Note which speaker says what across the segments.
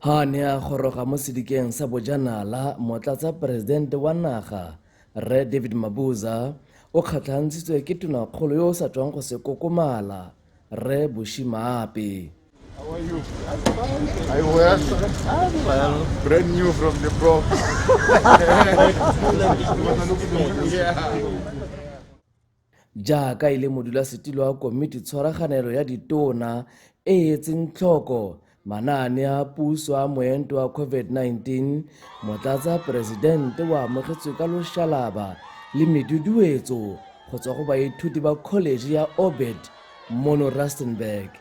Speaker 1: Ha a ne a goroga mo sedikeng sa bojanala, Motlatsaporesidente wa naga, Rre David Mabuza, o kgatlhantshitswe ke Tonakgolo yo o sa tswang go se kokomala, Rre Bushy Maape. I wear well, brand new from the box. Jaaka e le modulasetilo wa Komiti Tshwaraganelo ya Ditona e e etseng tlhoko manaane a puso a moento wa COVID-19, Motlatsa Poresidente o amogetswe ka loshalaba le meduduetso go tswa go baithuti ba College ya Orbit mono Rustenburg.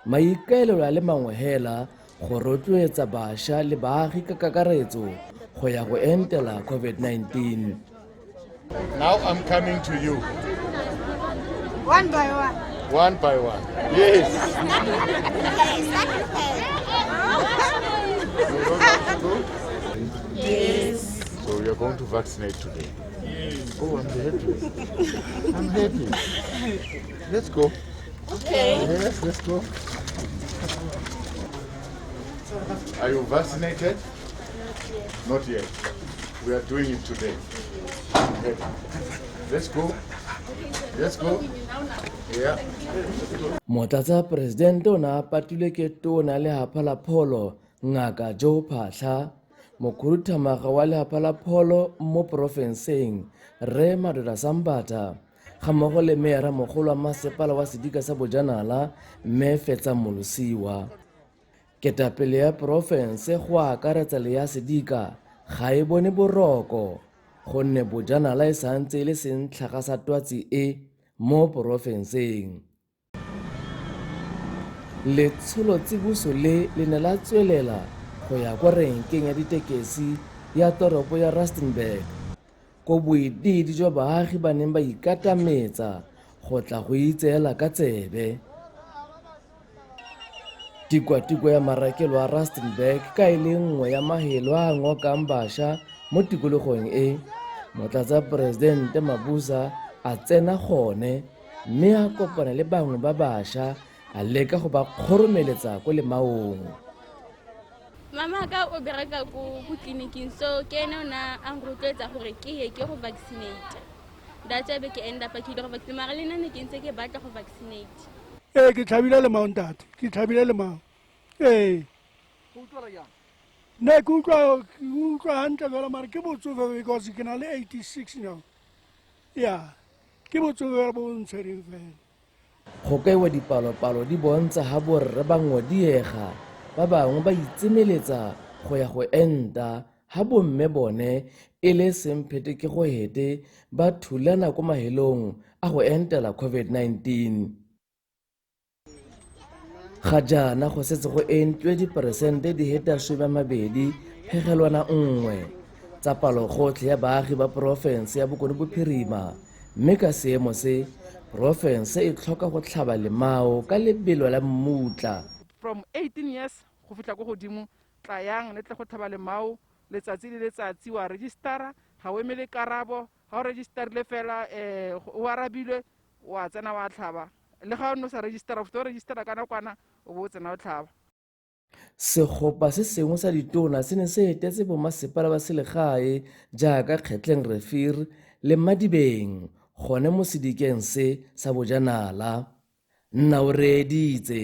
Speaker 1: Maikaelelo a le mangwe hela go rotloetsa bašwa le baagi ka kakaretso go ya go entela COVID-19. Now I'm coming to you. One by one. One by one. Yes. yes. So we are going to vaccinate today. Yes. Oh, I'm happy. I'm happy. Let's go. Okay. Yes, let's go. Are you vaccinated? Not yet. Not yet. We are doing it today. Okay. Let's go. Let's go. Yeah. motlatsa poresidente o ne a patilwe ke tona lehapha la pholo ngaka joe phatlha mokhuduthamaga wa lehapha la pholo mo porofenseng rre madoda sambata gammogo le meyara mogolo wa masepala wa sedika sa bojanala mme fetsa molosiwa ketapele ya porofense go akaretsa le ya sedika ga e bone boroko gonne bojanala e santse e le sentlhaga sa twatsi e mo porofenseng Letsholo tsiboso le le ne la tswelela go ya kwa renkeng ya ditekesi ya toropo ya Rustenburg ko boidiidi jwa baagi ba neng ba ikatametsa go tla go itseela ka tsebe. Tikwatikwa ya marakelo a Rustenburg ka e le nngwe ya mahelo a ngokang basha mo tikologong e, Motlatsaporesidente Mabuza a tsena gone mme a kopana le bangwe ba bašwa a leka go ba kgoromeletsa ko lemaong mama ka o bereka ko ko tleliniking so ke ene o na a nrotloetsa gore ke ye ke go vaccinate that's ebe ke end up ke ile go vaccinate mara le nna ne ke ntse ke batla go vaccinate ee ke tlhabile lemao ntate ke tlhabile lemao ee ne ke utlwa utlwa hantle fela mare ke botsofe because ke na le eighty six now ya yeah. ke botswerere bo ntshwereng fela go kaiwa dipalopalo di bontsha ga borre ba ngodiega ba bangwe ba itsemeletsa go ya go enta ga bomme bone e le semphete ke go hete ba thulana ko mahelong a go entela covid-19 ga jaana go setse go entwe diperesente di hetaswe ba mabedi phegelwana nngwe tsa palogotlhe ya baagi ba porofense ya bokone bophirima mme ka seemo se porofense e tlhoka go tlhaba lemao ka lebelo la mmutla from 18 years go fitlha ko godimo tlayang le tle go tlhaba lemao letsatsi le letsatsi wa registera ga o emele karabo ga o registerile fela um o arabilwe wa tsena wa tlhaba le ga o ne o sa registera o fete o registera ka nakwana o bo o tsena o tlhaba Segopa se sengwe sa ditona se ne se etetse bomasepala ba selegae jaaka Kgetleng Refir le Madibeng gone mo sedikeng se sa bojanala. Nna o reeditse.